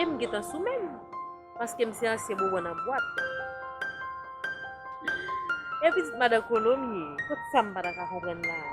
E m gentan sou menm. Paske m se ansyen bonbon nan bwat. E pitit madan kolo m ye. Kot sa m pa ta ka konprann la a.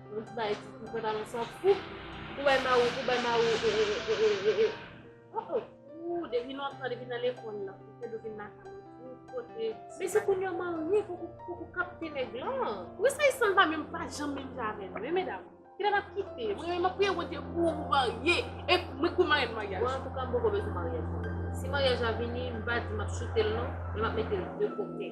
Mwen t bay ti kou pantalon sa pou pou bay ma ou pou bay ma ou e e e e oh oh. Ooh depi lontan depi nan lekol la fedou vin lakay mwen tout kote. Men se kounya w marye pou pou w kapte nèg lan. Wi sa isan pa menm pa janm menm jan avèm wi medam. Kilè nap kite mwen menm map priye Bondye pou ou marye e mwen kou marenn maryaj. Mwen antouka m poko bezwen maryaj nan menm. Si maryaj la vini m pa di map choutel non men map metel de kote.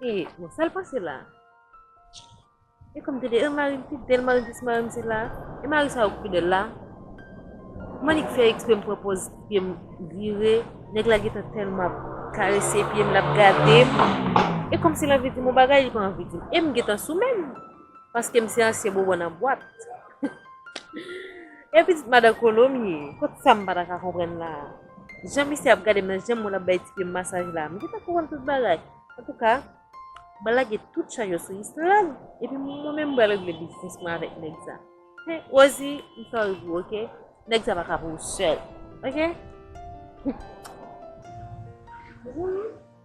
E, bon, sa l pase la? E kom te de, e mari m fidèl, mari m di si mari m se la. E mari sa yo ki fidèl la. Kouman li k fè eksprè m pran pòz pye m vire, nèg la gentan tèlman ap karese pye m l ap gade m. E kòmsi l anvi di m yon bagay li pa anvi di m. E m gentan sou menm. Paske m se ansyen bonbon nan bwat. E pitit madan kolo m ye. Kot sa m pa ta ka konprann la a? Jan misye ap gade m nan, jan moun ap bay ti pye m masaj la a, m gentan konprann tout bagay. Antouka, m lage tout chaj yo sou Yslande, epi mwen menm m pral regle biznis mwen avèk nèg sa. He, Rozi, m sòri pou ou ok. Nèg sa pa ka pou ou sèl. Ok? Hum.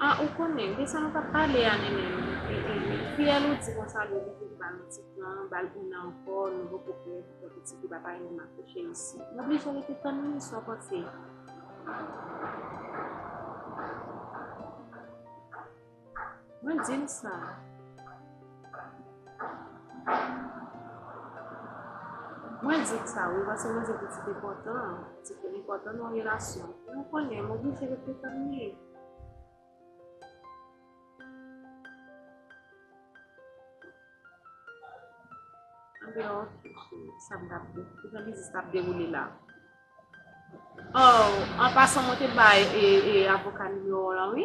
Ah ou konnen de sa nou tap pale a nene fiyèl ou di konsa dwe kite li ba nou ti tan bal une an ankò nou poko prè pou fè pitit li papa yo nan kouche isi nou oblije rete tann li sa w panse. Mwen di l sa. Mwen di l sa wi paske mwen se pitit enpòtan. Se pi enpòtan nan relasyon. Mwen konnen mwen oblije rete tann li. Andeyo sa m t ap di. Ki jan biznis la ap dewoule la. An pasan mwen te bay avoka nimewo w lan wi.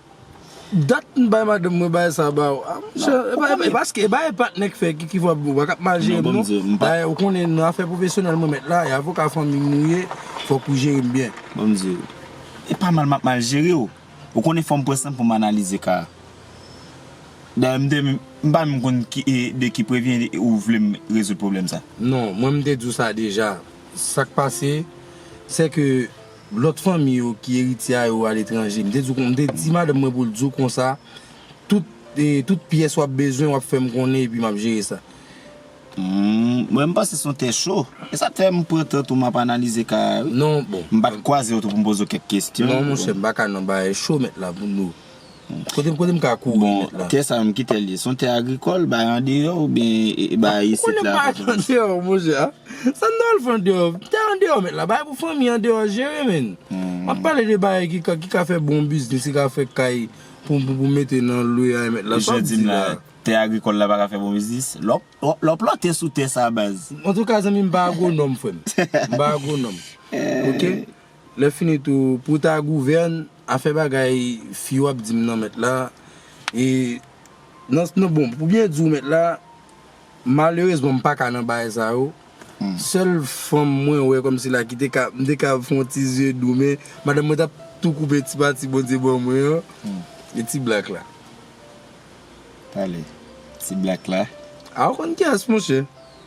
Dat m bay madanm mwen bagay sa ba ou a monchè e paske e bagay patnè k fè ki fè ou paka mal jere m non bagay ou konnen nan afè pwofesyonèl mwen mèt la e avoka fanmi m ou ye fòk ou jere m byen. Bon m di ou e pa mal m ap mal jere ou ou konnen fò m pran san pou m analize ka a dayè m te menm m pa menm konn ki e de ki prevyen ou vle m rezoud pwoblèm sa. Non mwen m te di w sa deja sa k pase se ke Lòt fanmi yo ki eritye a yo aletranje. M te di w kon, m te di madanm mwen pou l di w konsa, tout, tout pyès w ap bezwen w ap fè m konnen epi m ap jere sa. M, mwen m panse se yon tè cho. E sa k fè m pran tan tou m ap analize ka a wi. Non, bon. M pa t kwaze w tou pou m poze w kèk kesyon. Non monchè, m pa ka nan bagay cho mèt la pou nou. Kote m ka kouri met la? Bon, tè sa m ki tè l ye? Son tè agrikòl bay andeyò oubyen bay isit la? Konnen bay andeyò monchè a? Sa n ta al fè andeyò? Tè andeyò met la bay pou fanmi andeyò jere menn. M ap pale de bagay ki ka fè bon biznis, ki ka fè kay pou m mete nan lwe a met la. Sa w di la? Tè agrikòl la pa ka fè bon biznis? Lè w plante sou tè sa baz. Antouka zanmi m pa agwonòm frè m. M pa agwonòm. Ok? Lèfini tou, pou w ta gouvèn, afè bagay fi w ap di m nan mèt la, e, nan, bon, pou byen di w mèt la, malerezman m pa ka nan bagay sa yo, sèl fanm mwen wè kòmsi la ki te ka, m te ka fon ti zye dou men, madanm mwen t ap tou koupe ti pati Bondye ban mwen an, e ti blak la. Pale, ti blak la. A ou konn kiyès monchè?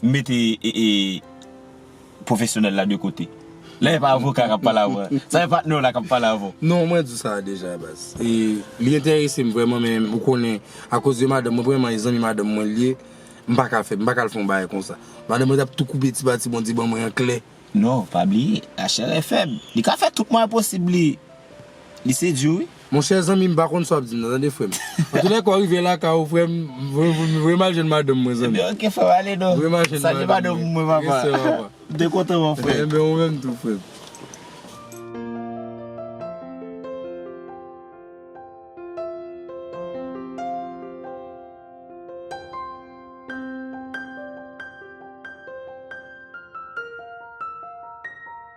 M mete pwofesyonèl la de kote. La e pa avoka kap pale avè w. Sa e patnè w la kap pale avè w. Non, mwen di sa deja baz. E li enterese m vrèman men ou konnen akoz de madanm mwen premyèman e zanmi madanm mwen li ye, m pa ka fè, m pa ka al fè yon bagay konsa. Madanm mwen tap tou koupe ti pati Bondye ban mwen an klè. Non, pa bliye, lachè rè fèb. Li ka fè tout mwayen posib li sedui w wi. Monchè zanmi m pa konn sa wap di nan tande frèm Antoulèka ou rive lakay ou frèm m voye mal jwenn madanm mwen zanmi Ok frèm ale non Voye mal jwenn madanm mwen Respè papa M te kontan wè w frèm Ok enben ou menm tou frèm.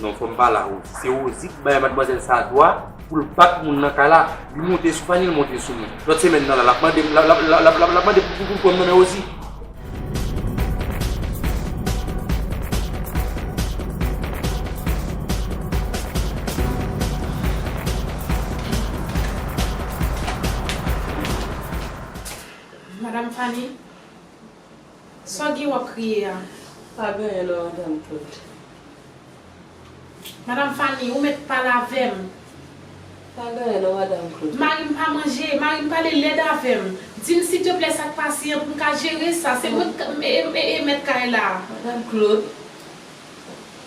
Non fòm pa la Rosie. Se Rosie ki bay madmwazèl sa dwa pou l bat moun nan kay la. Li monte sou panye, li monte sou mwen. Lòt semèn nan la, l ap mande m, l ap mande pou m pran nan men Rosie. Madam Fanny. Sa guy wap kriye a pa genyen nan antann tout. Madam Fanny ou met pale avem. Pa genyen nan madam Claude. Marim pa manje, marim pale lèd avèm, dim sitepl sak pase an poum ka jere sa, se mwen k mèt kay la. Madam Claude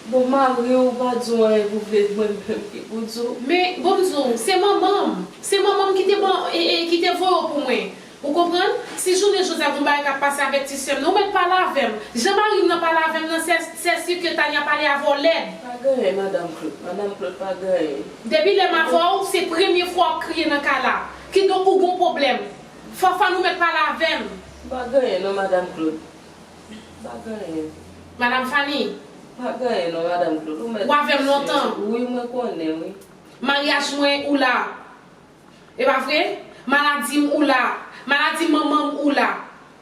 Bon mariw pa diw anyen pou vle di mwen menm ki pou diw. Men bon m diw se manmanm, se manmanm ki te voye w pou mwen. Ou konprann? Si jounen jodi a gon bagay kap pase avèk ti sèm nan, ou mèt pale avèm. Jan marim nan pale avèm nan sè sè si ke Tania pale avèw lèd. Pa gen anyen madam Claude. Madam Claude pa gen anyen. Depi lèm avèw se premye fwa wap kriye nan kay la. Kidonk ou gon pwoblèm. Fafane ou mèt pale avèm. M pa gen anyen non madam Claude. M pa gen anyen. Madam Fanie. M pa gen anyen non madam Claude. Ou mèt. Ou avèm lontan. Wi mwen konnen wi. Maryaj mwen ou la. E pa vre? Maladi m ou la. Maladi manman m ou la.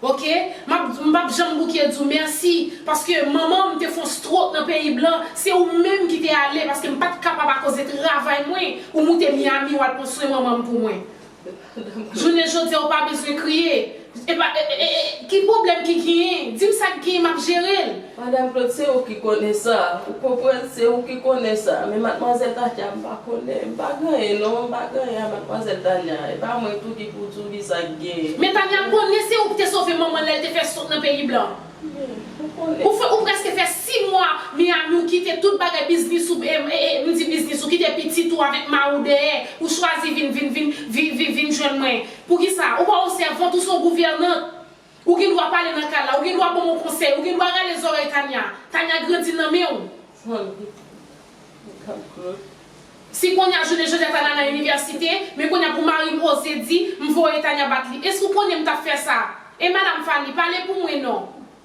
Ok? M ap m pap janm bouke di w mèsi paske manman m te fon strok nan peyi blan, se ou menm ki te ale paske m pat kapab akoze travay mwen, ou moute Miami w al pran swen manman m pou mwen. Jounen jodi a ou pa bezwen kriye. Epa ki pwoblèm ki ginyen dim sak ginyen map jerel. Madam Claude se ou ki konnen sa ou konprann se ou ki konnen sa men matmwazèl Tatia m pa konnen m pa ganyen non m pa ganyen a matmwazèl Tania e pa mwen tou ki pou tou ki sak gen. Men Tania konnen se ou ki te sove manmanl lèl te fè sot nan peyi blan Ou konnen. Ou fè ou prèske fè 6 mwa Miami ou kite tout bagay biznis ou m di biznis ou kite pitit ou avèk mariw dèyè ou chwazi vin vin vin vin vin jwenn mwen Poukisa? Ou pa yon sèvant, ou se yon gouvènant. Ou gen dwa pale nan kay la, ou gen dwa banm yon konsèy, ou gen dwa rale zòrèy Tania. Tania grandi nan men ou. Si Konya jounen jodia Tania nan inivèsite, men Konya pou marim oze di, m voye Tania bat li. Èske ou konnen m tap fè sa? E madam Fanny, pale pou mwen non.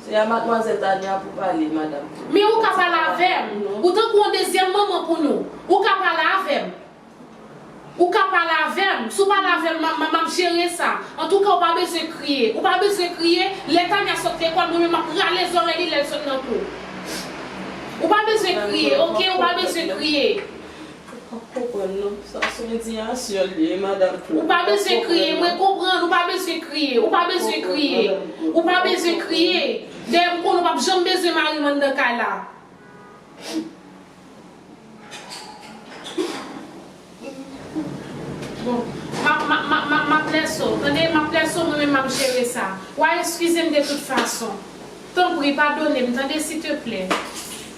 Se a Mademoiselle Tania pou pale madame tout Men ou ka pale avèm, ou tankou yon dezyèm manman pou nou, ou ka pale avèm, ou ka pale avèm, si w pale avèm ma ma map jere sa, antouka ou pa bezwen kriye, ou pa bezwen kriye, lè Tania sot lekòl mwen menm map rale zòrèy li lèl sot nan kou, ou pa bezwen kriye ok ou pa bezwen kriye. Ou pa konprann non, sa son indiyasyon li ye madam Claude. Ou pa bezwen kriye, mwen konprann, ou pa bezwen kriye, ou pa bezwen kriye, ou pa bezwen kriye, dayè m konnen w pap janm bezwen mari m anndan kay la. Bon, ma, ma, map lèso, tande, map lèso mwen menm map jere sa. Wa eskize m de tout fason. Tanpri padone m tande siteplè.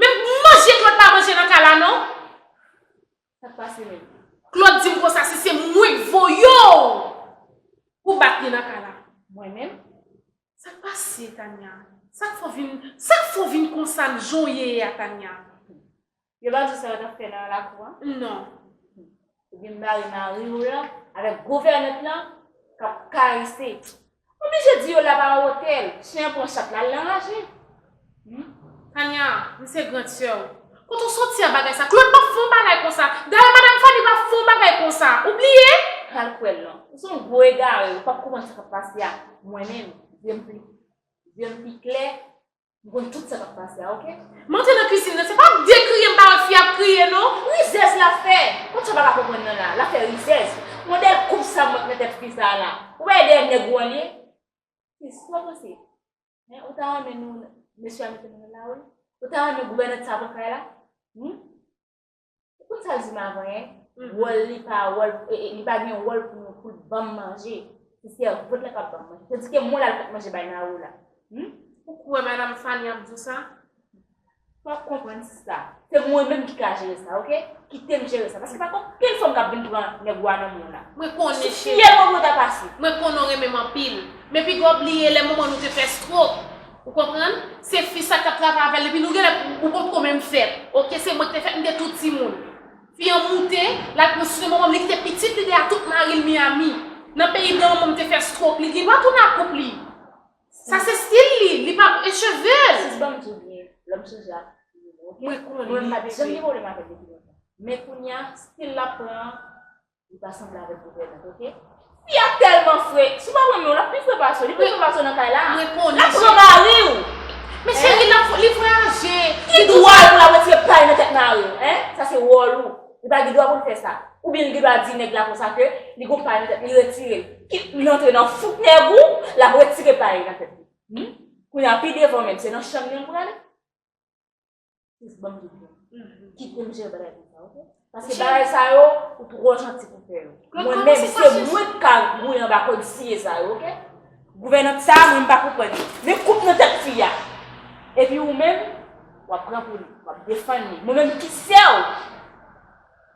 Men manje Claude pa manje nan kay la non. Sak pase menm. Claude dim konsa si se mwenk voyew pou bat li nan kay la. Mwen menm. Sak pase Tania. Sak fè w vin sak fè w vin konsa l jan w ye a Tania. Yo pa diw sa yo tap fè nan lakou an? Non. Ou byn bare mari ou lan avek gouvènant lan kap karese. Ou blije di yo la pa yon otèl. Chen an pran chat la, al anraje. Tania, m se grand sè w. Kote w soti ak bagay sa? Claude pap fè yon bagay konsa. Dayè madam Fanny pap fè yon bagay konsa. Ou bliye? Al kwè l lan. Ou se yon gwo egare, ou pap konprann sa kap pase ak mwen menm. Zye m pi klè Ou konn tout sa kap pase a ok. M antre nan kuisine nan se pa pou de kriye m pa wè fi a ap kriye non. Rizèz lap fè. Kot sa paka konprann nan la. Lap fè rizèz. Modèl koup sa m wè nan tèt fi sa la. Ou pa wè dèyè nèg ou an li ye. Sis sa w panse. Hein ou ta renmen nou mesye a mete nou nan lari. Ou ta renmen gouvènant sa pran kay la. Hum. Ou konn sa di m avan hein, wòl li pa wòl, li pa gen wòl pou nou, pou l ban m manje. Se sèvant la k ap ban m manje. Tandiske mwen la l pot manje bay Nao la. Ou kwè madam Fany ap di w sa? Ou ap konprann sa. Se mwen menm ki ka jere sa ok. Kite m jere sa. Paske pa gen okenn fanm k ap vin pran nèg ou a nan men w la. Mwen konnen cheri. Sou fyèl mwen pou yo ta pase. Mwen konnen w renmen m anpil. Men piga w bliye lè manman nou te fè strok. Ou konprann? Se fi sa kap travay avèl epi nou genlè ou potko menm fèt ok se mwen ki te fèt mte tou timoun fi an moute lal pran sousè manmanm li kite pitit li deyè tout maril Miami nan peyi blan manmanm te fè stroke li gendwa tounen ak koup li sa se stil li li pa e chevel Sis banm diw byen lòm sou zak Mwen konnen li Mwen pat janm gen pwoblèm avèl depi lontan men kounya stil lap pran an Li pa sanble avèk gouvènant ok. Fi a tèlman fre. Si w pa renmen w l ap pi fre pase w. Li pi fre pase w nan kay la. Mwen konnen. L ap pran mari w. Men cheri l ap li vwayaje. Ki dwa l pou l ap retire pay nan tèt mari w? Hein? Sa se wòl ou. Li pa gen dwa pou l fè sa. Oubyen li gen dwa di nèg la konsa ke li gon pay nan tèt li retire l. Ki li rantre nan fouk nèg ou l ap retire pay nan tèt li. Hum? Kounye a pi devan menm se nan chanm li an l prale. Sis banm tout bon. Kitem jere bagay pou sa ok. Paske bagay sa yo ou tro janti pou fè yo. Mwen men se mwen ki ka gouye anba kod siye sa yo ok. Gouvènant sa mwen m pa konprann li. Men koup nan tèt fi a. Epi ou menm wap pran pou li. Wap defann li. Mwen menm ki sèw.